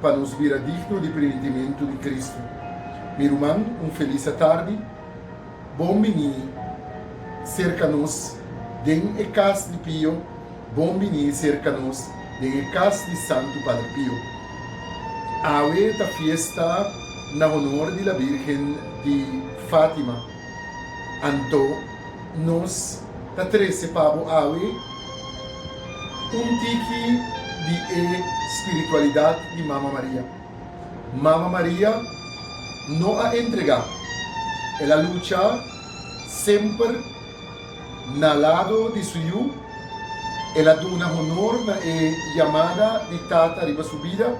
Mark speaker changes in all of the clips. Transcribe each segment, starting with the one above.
Speaker 1: pa nos bira digno di primitimentu di Kristu. Mi ruman, un felis atardi. Bon bini serka nos den e kas di Pio. Bon bini serka nos den e kas di Santu Padre Pio. Awe ta fiesta na honor di la Birgen di Fatima. Anto nos ta trese pa bo awe un tiki di e spiritualidat di Mama Maria. Mama Maria no a entregá, el a lucha semper na lado di su Yu, el a duna honor na e yamada di Tata riba su bida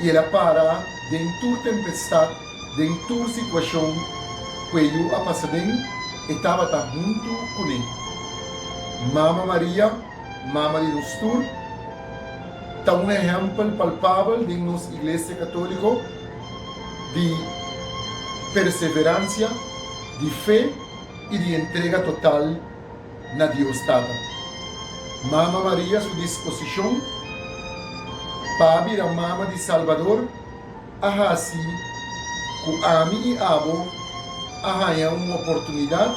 Speaker 1: i el a para den tur tempestat, Den tur situacion cu e yu a pasa den, e tabata huntu cu ne. Mama Maria, Mama di nos tur, ta un ehempel palpabel den nos Iglesia Catolico di perseverancia, di fe y di entrega total na Dios Tata. Mama Maria su disposicion pa a bira Mama di Salbador, a hasi ku ami i abo a haña un oportunidat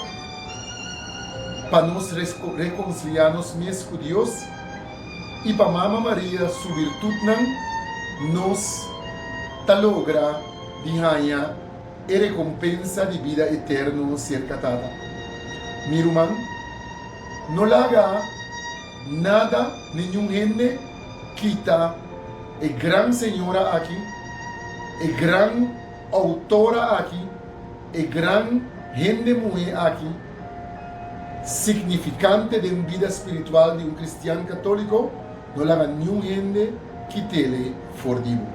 Speaker 1: pa nos rekonsiliá nos mes ku Dios i pa Mama Maria su birtutnan, nos ta logra di haña e rekompensa di bida eterno serka Tata. Mi ruman, no laga. Nada nin un hende kita e gran señora aki, e gran autora aki, e gran hende muhé aki significante den bida spiritual di un cristian católico, no laga ni un hende kitele for di bo.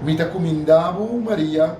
Speaker 1: Mi ta cuminda bo, Maria,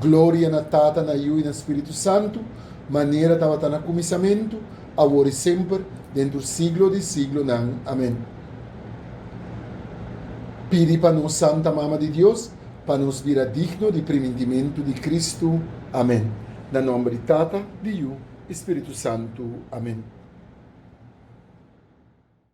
Speaker 1: Gloria na Tata, na Yu i na Spiritu Santu, manera tabata na kuminsamentu, awor i semper, dentru siglo di siglonan. Amen. Pidi pa nos Santa Mama di Dios pa nos bira digno di primintimentu di Kristu. Amen. Na nomber di Tata, di Yu i Spiritu Santu. Amen.